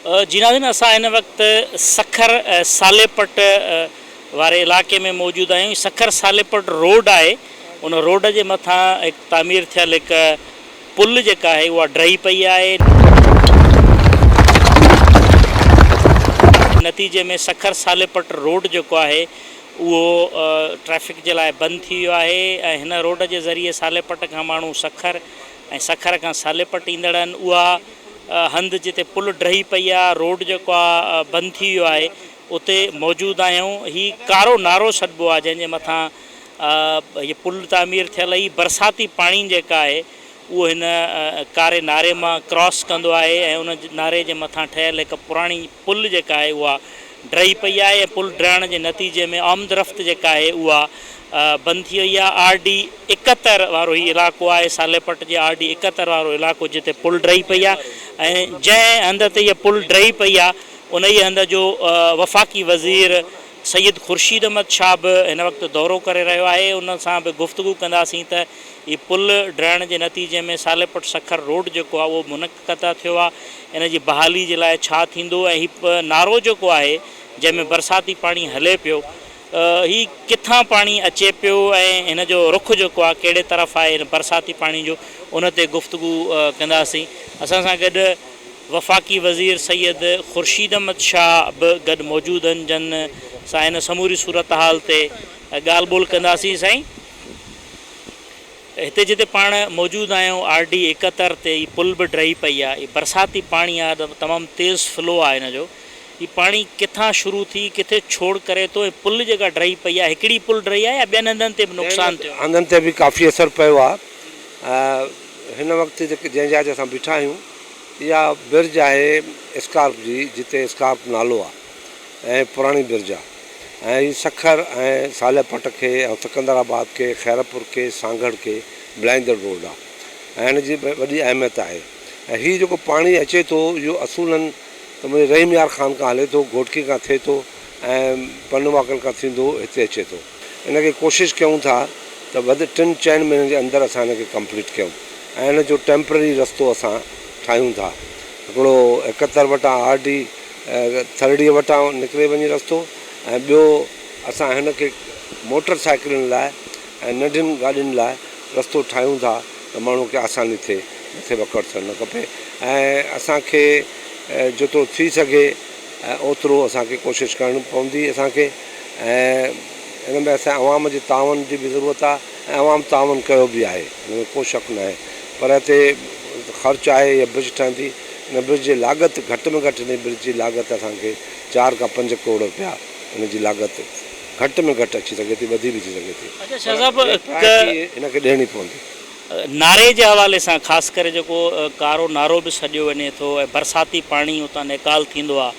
جي ناظرين اسان هن وقت سکر ساليپٽ واري علائقي ۾ موجود آهيون هي سکر ساليپٽ روڊ آهي ان روڊ جي مٿان هڪ تعمير ٿيل هڪ پل جيڪا آهي اها ڊهي پئي آهي نتيجي ۾ سکر ساليپٽ روڊ جيڪو آهي اهو ٽريفڪ جي لاء بند ٿي ويو آهي ۽ هن روڊ جي ذريعي ساليپٽ کان ماڻهو سکر ۽ سکر کان ساليپٽ ايندڙ آهن اها هنڌ جتي پل ڊهي پئي آ روڊ جيڪو آ بند ٿي ويو آهي اتي موجود آهيون هي ڪارو نارو سڏبو آ جنهن جي مٿان هي پل تعمير ٿيل هي برساتي پاڻي جيڪا آهي اهو هن ڪاري ناري مان ڪراس ڪندو آهي ۽ ان ناري جي مٿان ٺهيل هڪ پراڻي پل جيڪا آهي اها ڊهي پئي آهي ۽ پل ڊهڻ جي نتيجي ۾ آمدرفت جيڪا آهي اها بند ٿي وئي آهي آر ڊي اڪهتر وارو هي علائقو آهي صالح پٽ جي آر ڊي اڪهتر وارو علائقو جتي پل ڊهي پئي آهي ۽ جنهن هنڌ تي هي پل ڊهي پئي آهي انهي هنڌ جو وفاقي وزير سيد خورشيد احمد شاهه به هن وقت دورو ڪري رهيو آهي ان سان به گفتگو ڪنداسين ته هي پل ڊهڻ جي نتيجي ۾ صالح پٽ سکر روڊ جيڪو آهي اهو قطع ٿيو آهي ان جي بحالي جي لاء ڇا ٿيندو ۽ هي نارو جيڪو آهي جنهن ۾ برساتي پاڻي هلي پيو هي ڪٿان پاڻي اچي پيو ۽ هن جو رخ جيڪو آهي ڪهڙي طرف آهي هن برساتي پاڻي جو ان تي گفتگو ڪنداسين اسان سان گڏ وفاقي وزير سيد خورشيد احمد شاهه به گڏ موجود آهن جن سان هن سموري صورتحال تي ڳالهه ٻولهه ڪنداسين سائين هتي جتي پاڻ موجود آهيون آر ڊي ايڪهتر تي هي پل به ڊهي پئي آهي هي برساتي پاڻي آهي ته تمام تيز فلو آهي هن جو هي پاڻي ڪٿان شروع ٿي ڪٿي ڇوڙ ڪري ٿو ۽ پل جيڪا ڊهي پئي آهي هڪڙي پل ڊهي آهي يا ٻين هنڌن تي به نقصان ٿيو آهي. هنڌن تي به ڪافي اثر پيو آهي هن وقت جيڪي جنهن جاء تي اسان بيٺا آهيون اها برج آهي اسڪارپ جي جتي اسڪارپ نالو آهي. ۽ پراڻي برجا ۽ هي سکر ۽ صالح پٽ کي ۽ سڪندر آباد کي خيرپور کي سانگهڙ کي ملائيندڙ روڊ آ ۽ هن جي وڏي اهميت آهي ۽ هي جيڪو پاڻي اچي ٿو اهو اصولن ته منهنجي رحيم يار خان کان هلي ٿو گهوٽڪي کان ٿئي ٿو ۽ پنواڪل کان ٿيندو هتي اچي ٿو ان کي ڪوشش ڪيون ٿا ته وڌ ٽن چئن مهينن جي اندر اسان ان کي ڪمپليٽ ڪيون ۽ ان جو ٽيمپرري رستو اسان ٺاهيون ٿا هڪڙو اڪهتر وٽان آر ڊي ٿرڙي وٽان نڪري وڃي رستو ۽ ٻيو اسان هن کي موٽر سائيڪلن لاء ۽ ننڍين گاڏين لاء رستو ٺاهيون ٿا ته ماڻهو کي آساني ٿئي مٿي وڪڙ ٿيڻ کپي ۽ اسان کي جيترو ٿي سگهي اوترو اسان کي ڪوشش ڪرڻ پوندي اسان کي ۽ ان ۾ اسان جي عوام جي تعاون جي به ضرورت آهي ۽ عوام تعاون ڪيو به آهي ان ۾ ڪو شڪ ناهي پر هتي خرچ آهي يا برج ٺهندي ان برج جي لاڳت گهٽ ۾ گهٽ ان برج جي لاڳت اسان کي چار کان پنج ڪروڙ رپيا ان جي لاڳت گهٽ ۾ گهٽ اچي سگهي ٿي وڌي به ٿي سگهي ٿي اچا شاهه صاحب پر هڪ ڪفايتي ان کي ڏيڻي پوندي. ناري جي حوالي سان خاص ڪري جيڪو ڪارو نارو به سڏيو وڃي ٿو ۽ برساتي پاڻي اتان نيڪال ٿيندو آهي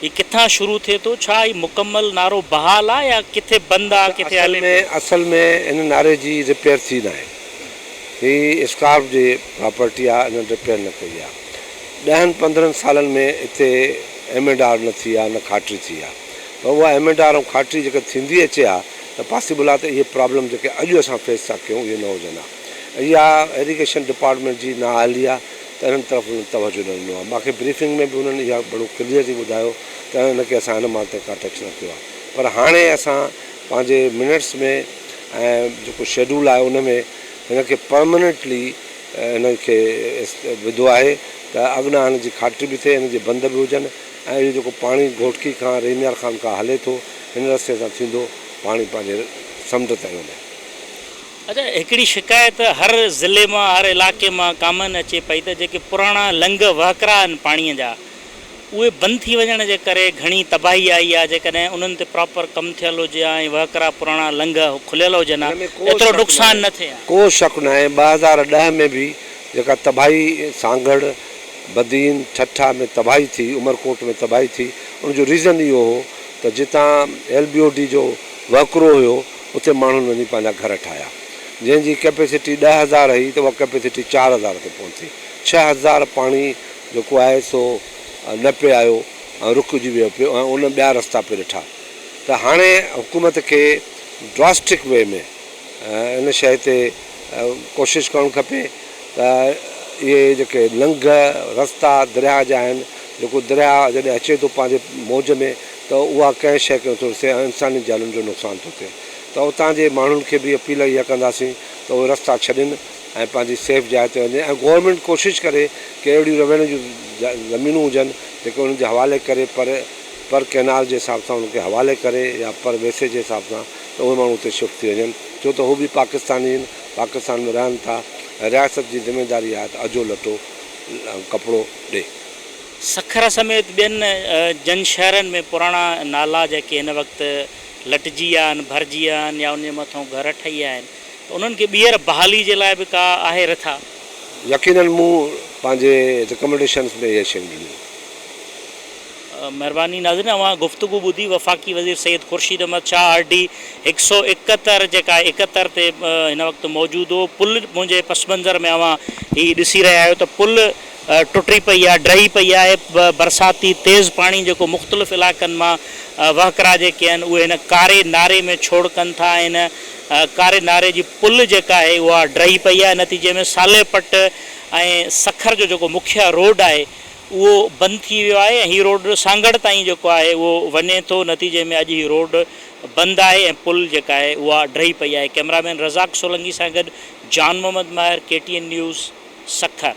هي ڪٿان شروع ٿئي ٿو؟ ڇا هي مڪمل نعرو بحال آ يا ڪٿي بند آ ڪٿي هلي پيو؟ اصل ۾ هن نعري جي رپيئر ٿي ناهي. هي اسڪارف جي پراپرٽي آ انهن رپيئر نه ڪئي آ. ڏهن پندرهن سالن ۾ هتي ايم اينڊ آر نه ٿي آ نه کاٽري ٿي آ. پر اها ايم اينڊ آر ۽ کاٽري جيڪا ٿيندي اچي آ ته پاسيبل آ ته اهي پرابلم جيڪي اڄ اسان فيس ٿا ڪيون اهي نه هجن ها. اها ايريگيشن ڊپارٽمينٽ جي نااهلي آ. ته انهن طرف هنن توجه نه ڏنو آهي. مان کي بريفنگ ۾ به هنن اها ڳڻو ڪليئر ٿي ٻڌايو ته انهن کي اسان هن مال تي ڪا ٽيڪس نه ٿيو آهي پر هاڻي اسان پنهنجي منٽس ۾ ۽ جيڪو شيڊول آهي ان ۾ هن کي پرماننٽلي هن کي وڌو آهي ته اڳنا هن جي کاٽري به ٿئي، هن جي بند به هجن ۽ اهو جيڪو پاڻي گهوٽڪي کان رحيم يار خان کان هلي ٿو هن رستي تان ٿيندو پاڻي پنهنجي سمنڊ تائين وڃي. اچا هڪڙي شڪايت هر ضلعي مان هر علاقي مان ڪامن اچي پئي ته جيڪي پراڻا لنگهه وهڪرا آهن پاڻي جا اهي بند ٿي وڃڻ جي ڪري گهڻي تباهي آئي آهي جيڪڏهن انهن تي پراپر ڪم ٿيل هجي ها ۽ وهڪرا پراڻا لنگهه کليل هجن ها ايترو نقصان نه ٿئي ها. ڪو شڪ ناهي ٻه هزار ڏهه ۾ به جيڪا تباهي سانگهڙ، بدين، ٺٽا ۾ تباهي ٿي، عمرڪوٽ ۾ تباهي ٿي ان جو ريزن اهو هو ته جتان ايل بي او ڊي جو وهڪرو هيو، اتي ماڻهن وڃي پنهنجا گهر ٺاهيا، جنهن جي ڪئپيسٽي ڏهه هزار هئي ته اها ڪئپيسٽي چار هزار تي پهتي. ڇهه هزار پاڻي جيڪو آهي سو نه پئي آيو ۽ رڪجي ويو پيو ۽ ان ٻيا رستا پئي ڏٺا ته هاڻي حڪومت کي ڊراسٽڪ وي ۾ ان شيء تي ڪوشش ڪرڻ کپي ته اهي جيڪي لنگهه رستا درياهه جا آهن، جيڪو درياهه جڏهن اچي ٿو پنهنجي موج ۾. ته اها ڪنهن شيء کي نٿو ڏسي ۽ انساني جانن جو نقصان ٿو ٿئي ته اتان جي ماڻهن کي به اپيل اها ڪنداسين ته اهي رستا ڇڏين ۽ پنهنجي سيف جاء تي وڃن ۽ گورنمينٽ ڪوشش ڪري ڪي اهڙيون رهوڻ جون زمينون هجن جيڪي انهن جي حوالي ڪري پر پر ڪئنال جي حساب سان انهن کي حوالي ڪري يا پر ويسي جي حساب سان ته اهي ماڻهو اتي شفٽ ٿي وڃن ڇو ته هو به پاڪستاني آهن پاڪستان ۾ رهن ٿا ۽ رياست جي ذميواري آهي ته اجهو لٽو ڪپڙو ڏي. سکر سميت ٻين جن شهرن ۾ پراڻا نالا جيڪي هن وقت لٽجي ويا آهن، ڀرجي ويا آهن يا انهن جي مٿئون گهر ٺهي ويا آهن ته انهن کي ٻيهر بحالي جي لاء به ڪا آهي رٿا؟ يقينن مون پنهنجي رڪمنڊيشنز ۾ اهي شيون ڏنيون آهن. مهرباني ناظرين اوهان گفتگو ٻڌي وفاقي وزير سيد خورشيد احمد شاهه آر ڊي هڪ سؤ اڪهتر جيڪا اڪهتر تي هن وقت موجود هو پل منهنجي پس منظر ۾ اوهان هي ڏسي رهيا آهيو ته پل ٽٽي پئي آهي، ڊهي پئي آهي، برساتي تيز پاڻي جيڪو مختلف علائقن مان وهڪرا جيڪي آهن اهي هن ڪاري ناري ۾ ڇوڙ ڪن ٿا ۽ هن ڪاري ناري جي پل جيڪا آهي اها ڊهي پئي آهي نتيجي ۾ صالح پٽ ۽ سکر جو جيڪو مکيه روڊ آهي اهو بند ٿي ويو آهي ۽ هي روڊ سانگهڙ تائين جيڪو آهي اهو وڃي ٿو نتيجي ۾ اڄ هي روڊ بند آهي ۽ پل جيڪا آهي اها ڊهي پئي آهي ڪئميرا مين رزاق سولنگي سان گڏ Jan Muhammad Mahar K T N news Sukkur.